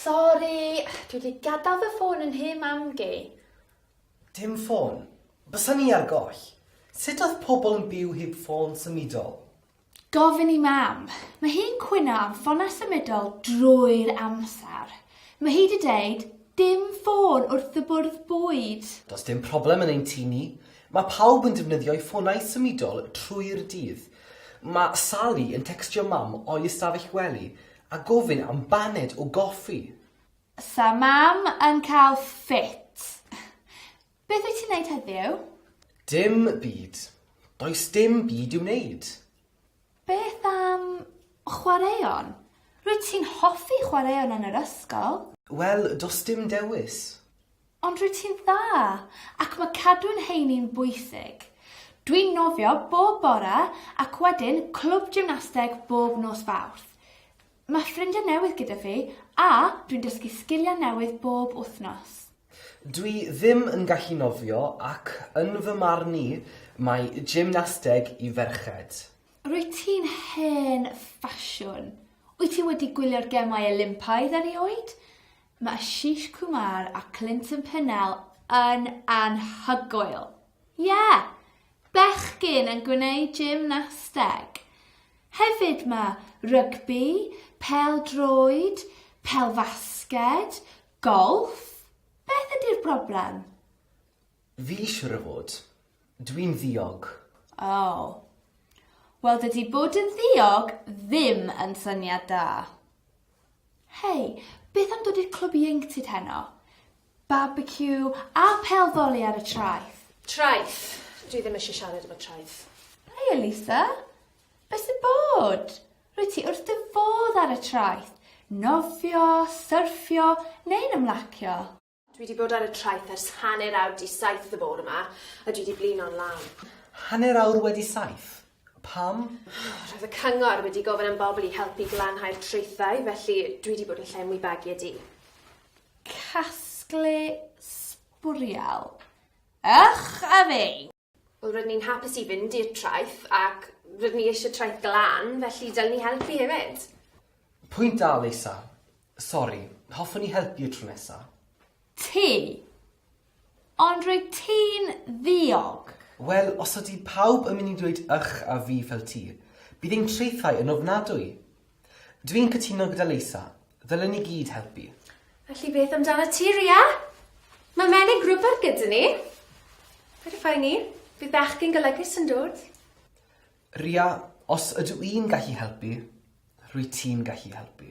Sori, dwi wedi gadael fy ffôn yn nhŷ mam gi. Dim ffôn? Bysa ni ar goll. Sut oedd pobl yn byw heb ffôn symudol? Gofyn i Mam. Mae hi'n cwyno am ffonau symudol drwy'r amser. Mae hi 'di deud, 'Dim ffôn wrth y bwrdd bwyd! Does dim problem yn ein tŷ ni. Mae pawb yn defnyddio'u ffonau symudol trwy'r dydd. Mae Sally yn tecstio Mam o'i ystafell wely a gofyn am baned o goffi. 'Sa Mam yn cael ffit. Beth wyt ti'n wneud heddiw? Dim byd. Does dim byd i'w wneud. Beth am chwaraeon? Rwyt ti'n hoffi chwaraeon yn yr ysgol. Wel, does dim dewis. Ond rwyt ti'n dda, ac mae cadw'n heini'n bwysig. Dwi'n nofio bob bore ac wedyn clwb gymnasteg bob nos Fawrth. Mae ffrindiau newydd gyda fi a dwi'n dysgu sgiliau newydd bob wythnos. Dwi ddim yn gallu nofio ac yn fy marn i mae gymnasteg i ferched. Rwyt ti'n hen ffasiwn. Wyt ti wedi gwylio'r Gemau Olympaidd erioed? Mae Ashish Kumar a Clinton Pennell yn anhygoel. Ie! Bechgyn yn gwneud gymnasteg. Hefyd mae rygbi, pêl-droed, pêl-fasged, golff, beth ydi'r broblem? Fi siwr o fod. Dwi'n ddiog. O. Wel dydi bod yn ddiog ddim yn syniad da. Hei, beth am dod i'r clwb ieuenctid heno? Barbeciw a phêl foli ar y traeth. Traeth! Dwi ddim eisiau siarad efo traeth. Haia Lisa! Be sy'n bod? Rwyt ti wrth dy fodd ar y traeth? Nofio, syrffio neu'n ymlacio? Dwi 'di bod ar y traeth ers hanner awr 'di saith y bore 'ma a dwi 'di blino'n lân. Hanner awr wedi saith? Pam? Roedd y cyngor wedi gofyn am bobl i helpu glanhau'r traethau, felly dwi wedi bod yn llenwi bagiau du. Casglu sbwriel. Ych a fi! Wel, rydyn ni'n hapus i fynd i'r traeth, ac rydyn ni eisiau traeth glân, felly dylen ni helpu hefyd. Pwynt da, Lisa. Sori, hoffwn i helpu y tro nesa. Ti. Ond rwyt ti'n ddiog. Wel, os ydy pawb yn mynd i ddweud ych a fi fel ti, bydd ein traethau yn ofnadwy. Dw i'n cytuno gyda Leisa. Ddylen ni gyd helpu. Felly beth amdanat ti, Ria? Mae menig rwber gyda ni. Fedra ffain ni. Bydd bechgyn golygus yn dod. Ria, os ydw i'n gallu helpu, rwyt ti'n gallu helpu.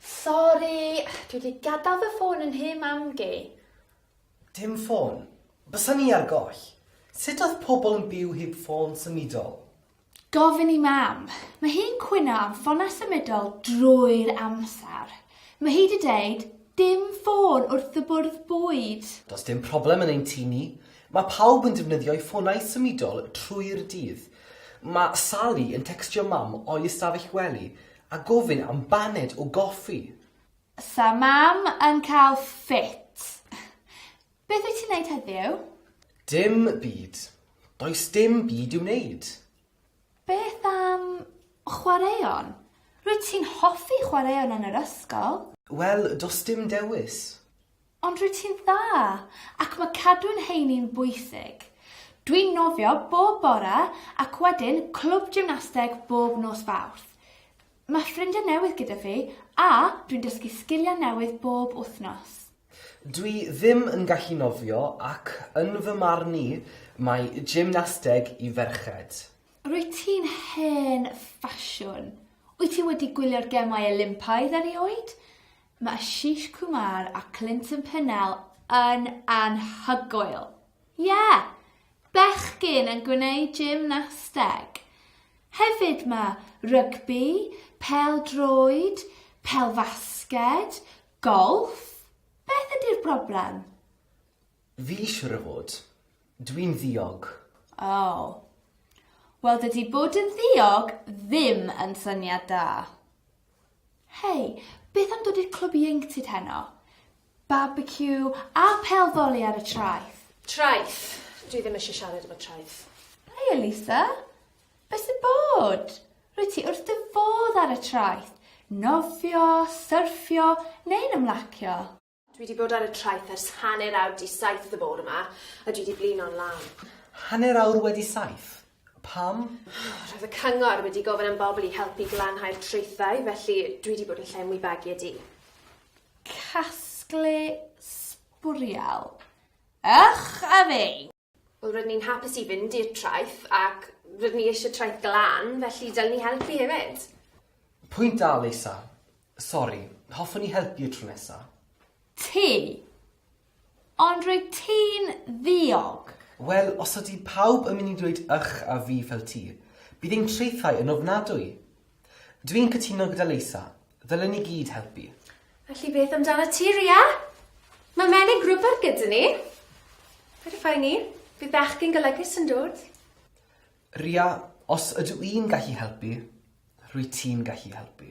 Sori, dwi 'di gadal fy ffôn yn nhŷ mam gi. Dim ffôn? Bysa ni ar goll. Sut oedd pobl yn byw heb ffôn symudol? Gofyn i Mam. Mae hi'n cwyno am ffonau symudol drwy'r amser. Mae hi 'di deud, 'Dim ffôn wrth y bwrdd bwyd! Does dim problem yn ein tŷ ni. Mae pawb yn defnyddio eu ffonau symudol trwy'r dydd. Mae Sally yn tecstio Mam o'i ystafell wely a gofyn am baned o goffi. Sa Mam yn cael ffit. Beth wyt ti'n wneud heddiw? Dim byd. Does dim byd i'w wneud. Beth am chwaraeon? Rwyt ti'n hoffi chwaraeon yn yr ysgol. Wel, does dim dewis. Ond rwyt ti'n dda, ac mae cadw'n heini'n bwysig. Dwi'n nofio bob bore ac wedyn clwb gymnasteg bob nos Fawrth. Mae ffrindiau newydd gyda fi a dwi'n dysgu sgiliau newydd bob wythnos. Dwi ddim yn gallu nofio ac yn fy marn i mae gymnasteg i ferched. Rwyt ti'n hen ffasiwn. Wyt ti wedi gwylio'r Gemau Olympaidd erioed? Mae Ashish Kumar a Clinton Pennell yn anhygoel! Ie! Bechgyn yn gwneud gymnasteg. Hefyd mae rygbi, pêl-droed, pêl-fasged, golff. Beth ydy'r broblem? Fi siwr o fod. Dwi'n ddiog. O. Wel dydy bod yn ddiog ddim yn syniad da. Hei, beth am dod i'r clwb ieuenctid heno? Barbeciw a pêl foli ar y traeth! Traeth! Dwi ddim eisiau siarad efo traeth. Hei Elisa! Be sy'n bod? Rwyt ti wrth dy fodd ar y traeth! Nofio, syrffio, neu'n ymlacio? Dwi wedi bod ar y traeth ers hanner awr 'di saith y bore 'ma, a dwi 'di blino'n lân. Hanner awr wedi saith? Pam? Roedd y cyngor wedi gofyn am bobl i helpu glanhau'r traethau, felly dwi wedi bod yn llenwi bagiau du. Casglu sbwriel. Ych a fi! Wel rydyn ni'n hapus i fynd i'r traeth ac rydyn ni eisiau traeth glân, felly dylen ni helpu hefyd. Pwynt da Lisa. Sori, hoffwn ni helpu y tro nesa. Ti! Ond rwyt ti'n ddiog! Wel, os ydy pawb yn mynd i ddweud ych a fi fel ti, bydd ein traethau yn ofnadwy! Dw i'n cytuno gyda Lisa. Ddylen ni gyd helpu. Felly beth amdanat ti, Ria? Mae menig rwber gyda ni. Fedri phoeni. Bydd bechgyn golygus yn dod. Ria, os ydw i'n gallu helpu, rwyt ti'n gallu helpu.